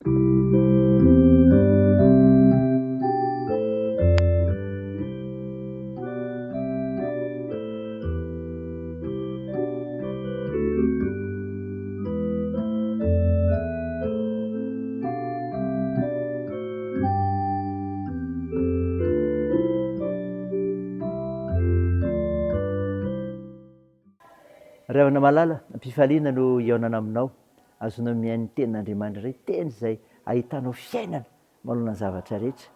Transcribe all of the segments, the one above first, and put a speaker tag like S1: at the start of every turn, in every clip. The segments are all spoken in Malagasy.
S1: Ry havana malala, am-pifaliana no hihaonana aminao. Azonao mihaino ny Tenin'Andriamanitra indray, Teny izay ahitanao fiainana manoloana ny zavatra rehetra,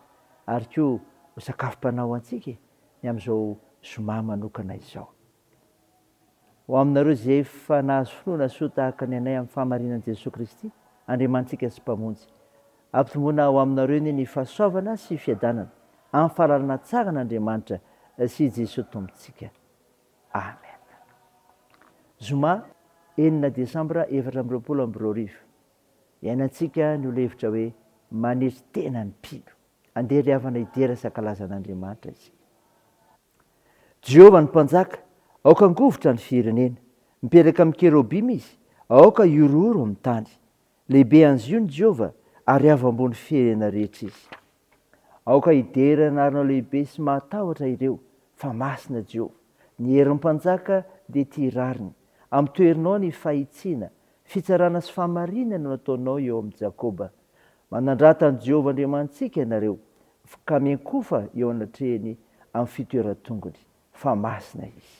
S1: ary koa ho sakafom-panahy ho antsika e, ny amin'izao zoma manokana izao. Ho aminareo izay efa nahazo finoana soa tahaka ny anay amin'ny fahamarinan'i Jesoa Kristy, Andriamanitsika sy Mpamonjy. Ampitomboina ho aminareo anie ny fahasoavana sy fiadanana amin'ny fahalalana tsara an'Andriamanitra sy i Jesoa Tompontsika. Amen. Zoma enina desambra efatra amby roapolo amby roa arivo, iainantsika ny ho levitra hoe manetry tena ny mpino. Andeha ry havana hidera sy hankalaza an'Andriamanitra isika. Jehovah no Mpanjaka, aoka hangovitra ny firenena. Mipetraka amin'ny kerobima izy, aoka hihorohoro amin'ny tany. Lehibe anzion' i Jehovah, ary avo ambony firenena rehetra izy. Aoka hidera ny anarnao lehibe sy mahatahotra ireo, fa masina Jehovah. Ny herin'ny mpanjaka dia ity rariny, amin'ny toerinao ny fahitsiana, fitsarana sy fahamarinana no ataonao eo amin'i Jakoba. Manandrata an'i Jehovah Andriamanitsika ianareo, ka miankofa eo anatrehany amin'ny fitoeran-tongony, fa masina izy.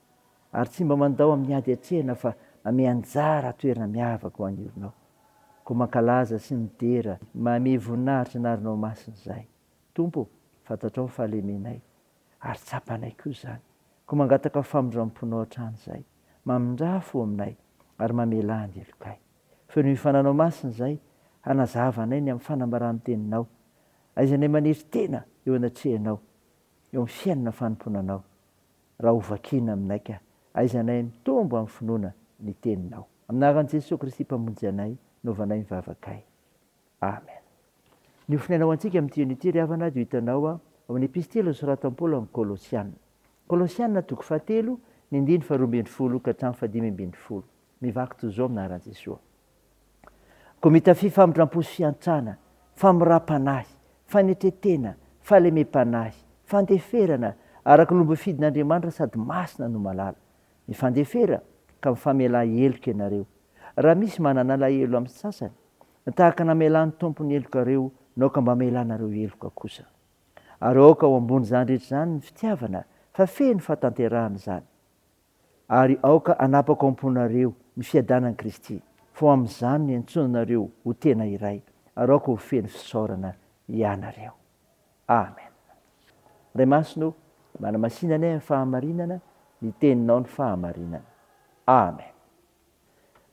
S1: ary tsy mba mandao amin'ny ady hatrehina fa manome anjara toerana miavaka ho an'ny orinao. Koa mankalaza sy midera mahamia voninahitra ny arinao masina izahay. Tompo ô, fantatrao ny fahalemenay, ary tsapanay koa izany. Koa mangataka famindram-ponao hatrany izahay. Mamindrà fo aminay, ary mamelà ny helokay. Fenoy ny fananao masina izahay, hanazava anay ny amin'ny fanambaran'ny Teninao. Aizanay maniry tena eo anatrehanao, eo amin'ny fiainana fanompoana Anao. Raha ho vakiana aminay ka, aiza anay mitombo amin'ny finoana ny Teninao. Amin'ny anaran'i Jesoa Kristy Mpamonjy anay, novainay ny vavakay. Amen. Ny ho finaina ho antsika amin'ity andro ity, ry havana, dia ho hitanao ao amin'ny Epistily nosoratan'i Paoly ho an'ny Kolosiana. Kolosiana, toko fahatelo, ny andininy faharoa ambin'ny folo ka hatramin'ny fahadimy ambin'ny folo. Mivaky toy izao amin'ny anaran'i Jesoa. Komita fifamindrampo sy fiantrana, famoram-panahy, fanetretena, fahalemem-panahy, fandeferana, araka ny lobofidin'Andriamanitra sady masina no malala. Mifandefera ka mifamelà heloka ianareo. Raha misy manana alahelo amin'ny sasany, tahaka namelan'ny Tompo ny helokareo, naoka mba amelanareo heloka kosa. Ary aoka ho ambon'izany rehetra izany ny fitiavana, fa feno fahatanterahana izany. Ary aoka hanapako am-ponareo ny fiadanan'i Kristy, fa ho amin'izany niantsoana anareo ho tena iray, ary aoka ho feno fisaorana hianareo. Amen. Ray Masina ô, manamasina anay amin'ny fahamarinana, ny Teninao no fahamarinana. Amen.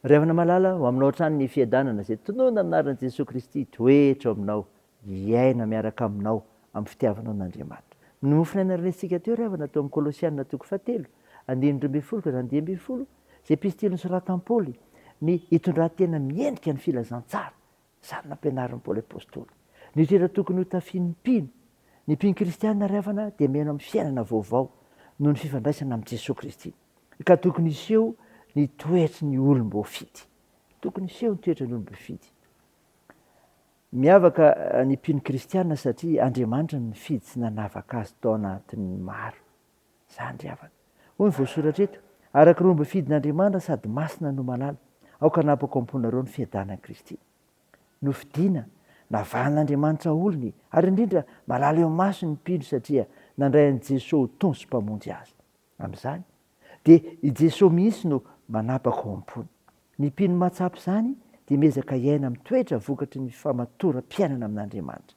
S1: Ry havana malala, ho aminao hatrany ny fiadanana izay tononina amin'ny anaran'i Jesoa Kristy, hitoetra ao aminao hiaina miaraka aminao amin'ny fitiavanao an'Andriamanitra. Ny mofona aina renesintsika teo ry havana teo amin'ny Kolosiana toko fahatelo, andininy roa ambin'ny folo ka hatramin'ny dimy ambin'ny folo, izay epistily nosoratan'i Paoly, ny hitondran-tena miendrika ny filazantsara, izany nampianarin'i Paoly Apostoly. Ny toetra tokony hotafian'ny mpino, ny mpino kristiana ry havana dia miheno amin'ny fiainana vaovao noho ny fifandraisana amin'i Jesoa Kristy, ka tokony hiseho ny toetry ny olom-boafidy. Tokony hiseho ny toetry ny olom-boafidy. Miavaka ny mpino kristiana satria Andriamanitra no nifidy sy nanavaka azy tao anatin'ny maro. Izany ry havana. Hoy ny voasoratra eto, Araka ireo mbofidin'Andriamanitra sady masina no malala, aoka hanapako am-ponareo ny fiadanan'i Kristy. Nofidina, navahan'Andriamanitra olony, ary indrindra malala eo masony ny mpino satria nandray an'i Jesoa ho Tompo sy Mpamonjy azy. Amin'izany, dia i Jesoa mihitsy no manapaka ao am-pony. Ny mpino mahatsapa izany dia miezaka hiaina amin'ny toetra vokatry ny famatoram-piainana amin'Andriamanitra.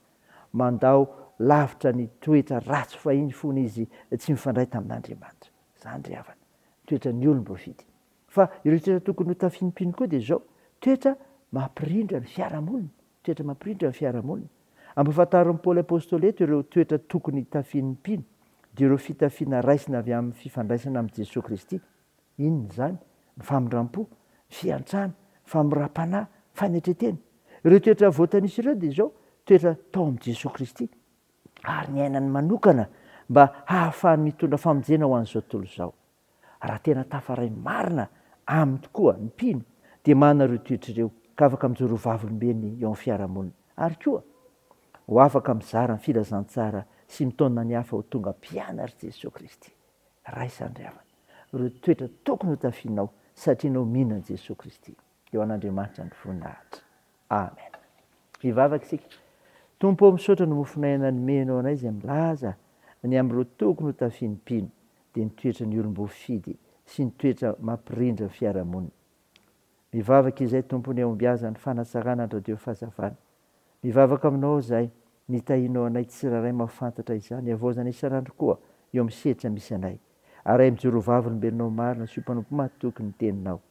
S1: Mandao lavitra ny toetra ratsy fahiny fony izy tsy mifandray tamin'Andriamanitra. Izany ry havana, ny toetran'ny olom-boafidy. Fa ireo toetra tokony ho tafimpino koa dia izao, toetra mampirindra ny fiarahamonina, toetra mampirindra ny fiarahamonina. Ampahafantarin'i Paoly Apostoly eto ireo toetra tokony hitafian'ny mpino, dia ireo fitafiana raisina avy amin'ny fifandraisana amin'i Jesoa Kristy. Inona izany? Ny famindram-po, ny fiantrana, ny famoram-panahy, ny fanetren-tena. Ireo toetra voatanisa ireo dia izao, toetra tao amin'i Jesoa Kristy ary niainany manokana mba hahafahany mitondra famonjena ho an'izao tontolo izao. Raha tena tafaray marina aminy tokoa ny mpino dia manana ireo toetra ireo ka afaka mijoro ho vavolombelony eo amin'ny fiarahamonina. Ary koa, ho afaka mizara ny filazantsara sy mitaona ny hafa ho tonga mpianatr'i Jesoa Kristy. Raisa ny ry havana ireo toetra tokony hotafianao satria ianao mino an'i Jesoa Kristy. eo an'Andriamanitra ny voninahitra. Amen. Hivavaka isika. Tompo ô, misaotra ny mofonay anay nomenao anay izay milaza ny amin'ireo tokony ho tafian'ny mpino, dia ny toetra ny olom-boafidy sy ny toetra mampirindra ny fiarahamonina. Mivavaka izay Tompo ny hahombiazan'ny fanatsarana an-dRadio Fahazavana. Mivavaka aminao izay nitahianao anay tsirairay mahafantatra izany havaozana isan'andro koa eo amin'ny sehatra misy anay. Arahin'ny Joro vavolombelonao marina sy ho mpanompo mahatoky ny teninao.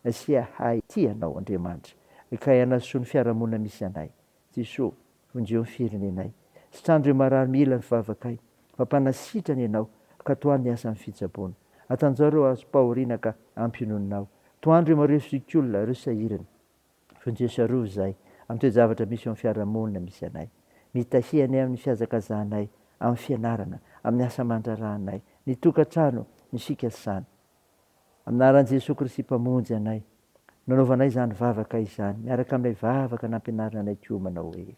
S1: Asia ahy tia Anao Andriamanitra Kay anasoa ny fiarahamonina misy anay Jesoa vonjeo ny firenenay Sitrano reo marary mila ny fivavakay Fa mpanasitrana Ianao ka tohano ny asan'ny fitsaboana Atanjao reo azom-pahoriana ka ampy inoninao Tohano reo mareo zokiolona reo sahirana Vonjeo sy arovy izay amin'ny toe-javatra misy eo amin'ny fiarahamonina misy anay Mitahy anay amin'ny fihazakazahanay amin'ny fianarana amin'ny asa aman-draharahanay Ny tokantrano no isika samy Amin'Anaran'i Jesoa Kristy Mpamonjy anay, nanaovanay izany vavaka izany, miaraka amin'ilay vavaka nampianarina anay koa manao hoe,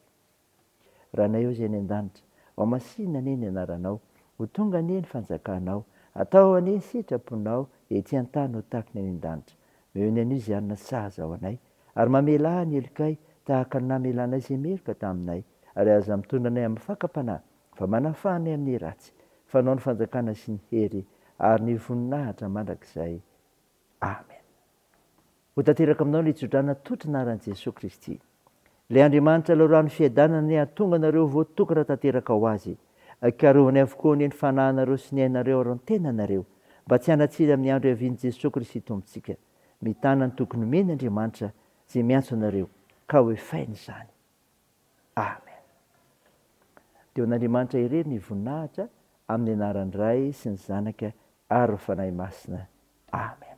S1: Ranay ô Izay any an-danitra, ho masinina anie ny Anaranao, ho tonga anie ny fanjakanao, atao anie ny sitraponao ety an-tany ho tahaka ny any an-danitra. Omeo ny anio izay hanina sahaza ho anay, ary mamelà ny helokay tahaka ny namelanay izay meloka taminay, ary aza mitondra anay amin'ny fakam-panahy, fa manafaha ny amin'ny ratsy, fanao ny fanjakana sy ny hery ary ny voninahitra mandrakizay. Amen. Ho tanteraka aminao ny tsodrana totrina aran'i Jesoa Kristy. Ilay Andriamanitra lalorano fiadanana anie hahatonga anareo voatokana tanteraka ho Azy. Karohiny avokoa anie ny fanahinareo sy ny ainareo ary ny tenanareo mba tsy hanatsiny amin'ny andro hiavian'i Jesoa Kristy Tompontsika. Mitana ny tokony omeny Andriamanitra izay miantso anareo ka hoefainy izany. Amen. Dia ho an'Andriamanitra irery ny voninahitra amin'ny anaran'ny Ray sy ny Zanaka ary ny Fanahy Masina. Amen.